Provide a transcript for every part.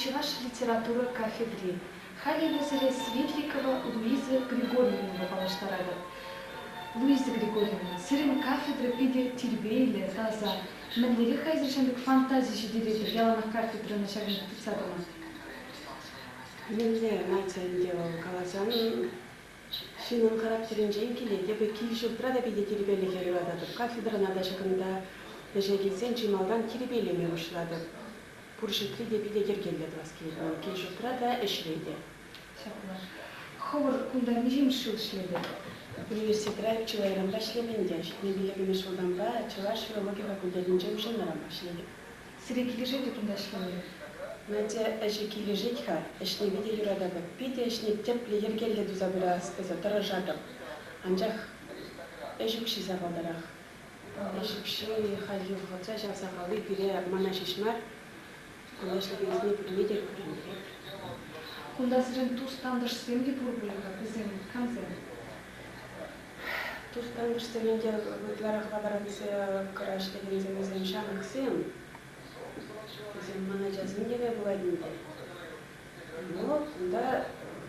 чӑваш литература кафедри халӗ эпӗсене светликова луиза григорьевнӑпа паллаштаратӑп луиза григорьевна сирӗн кафедра питӗ тирпейлӗ таса мӗнлерех-ха эсир ҫамрӑк фантази ҫитӗнетӗр яланах кафедрӑна ҫакӑнта тытса тӑма мӗнле май ӗнтӗ вӑл каласан Ҫынӑн характерӗнчен килет эпӗ кил-ҫуртра та питӗ тирпейлӗхе юрататӑп, кафедрӑна та ҫакӑнта ӗҫе килсен чи малтан тирпейлеме пуҫлатӑп. Пур ҫуртри те питӗ йӗркеллӗ тӑвас килет. Кил-ҫуртра та, ӗҫре те. Ҫапла. Хӑвӑр кунта миҫемӗш ҫул ӗҫлетӗр? Университетра чылайранпа ӗҫлем ӗнтӗ. Ҫитме пиллӗкмӗш ҫултанпа чӑваш филологи факультетӗнче уҫӑлнӑран пуҫлетӗп. Сире килӗшет-и кунта ӗҫлеме? Надя, ӗҫӗ килӗшет-ха, ӗҫлеме те юрататӑп. Питӗ ӗҫне тӗплӗ, йӗркеллӗ туса пырас тесе тӑрӑшатӑп. Анчах ӗҫ укҫи сахалтарах. Ӗҫ укҫи халь юхӑтса ҫав сахали пире мана ҫеҫ мар, кулаҫлӑхӗнсене пурне те кӳрентерет. Кунта сирӗн тус-тантӑшсем те пур пулӗ-ха, вӗсем, камсем? Тустан вӗҫтеренте ытларах лаборантсене кӑра ӗҫлекенсемсен ҫамрӑксем, вӗсем ман ачасенневе пулать ӗнтӗ. Вот кунта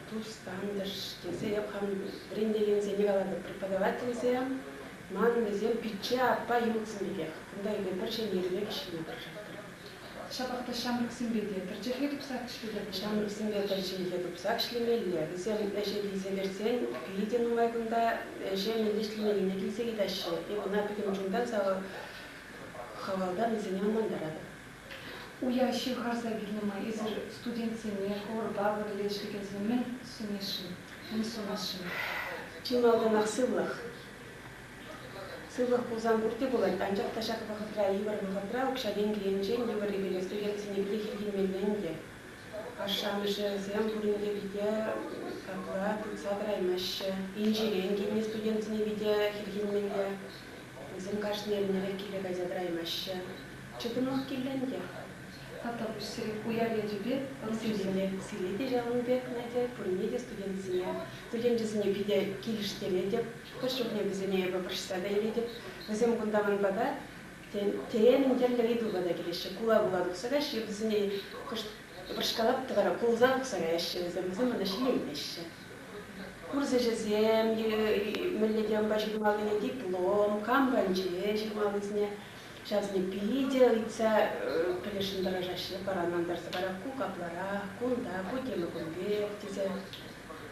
тустантӑш тесе эп хам вӗрентекенсене калатӑп. Преподавательсем ман вӗсем пичче аппа ҫуртсем пекех. Кунта эпир пӗр ҫемьери пек ӗҫлеме тӑрӑшаттӑм. Ҫапах та ҫамрӑксемпе те пӗрчӗхре тупсах ӗҫлетӗп. Ҫамрӑксемпе пӗр ҫинче тупсах ӗҫлемелле. Вӗсем ӗҫе килсе кӗрсен питӗ нумай кунта ӗҫе мӗнле ӗҫлемеллине килсе йӑтаҫҫӗ. Ывӑна пӗтӗм чунтан хавалтан вӗсене ӑнлантаратӑп. Уя ҫывхарса килнӗ май эсир студентсене хорпа пӗрле ӗҫлекенсем мӗн сунесшӗн, мӗн сунасшӑн? Чи малтанах сывлӑх. Сывлӑх пулсан пурте пулать, анчах та ҫак вӑхӑтра йывӑр вӑхӑтра укҫа-тенкӗ енчен йывӑр илес туйассине питех илтеймелле ӗнтӗ. Ашшӗ-амӑшӗсем пурин те питӗ какла тытса тӑраймаҫҫӗ. Инҫерен килнӗ студентсене питӗ хӗрхенмелле. Вӗсем кашни эрнерех киле кайса тӑраймаҫҫӗ. Чӑтӑмах кирлӗ ӗнтӗ. Тата пуҫсерен уяр ячӗпе ӑмсинчен сире те ҫавӑн пек, Надя, пурне те студентсене, студенчӗсене питӗ килӗштеретӗп. Хӑш чухне вӗсене эпӗ пӑрҫса та илетӗп. Вӗсем кунта-мӑн пата, теемӗн тӗрлӗ ыйтупа та килеҫҫӗ. Кула-кула тухса каҫҫӗ, вӗсене кӑшт вӑрҫкалап та вара кулса тухса каяҫҫӗ вӗсем, вӗсем мана ҫилемлеҫҫӗ. Курс ӗҫӗсем, мӗнле темӑпа ҫырмаллине диплом, кам панче ҫырмаллисене, ҫавсене питӗ ыйтса пӗлесшӗн тӑрӑшаҫҫӗ. Паран антарса парак ку капларах, кунта, ку тема кун пек, тесе.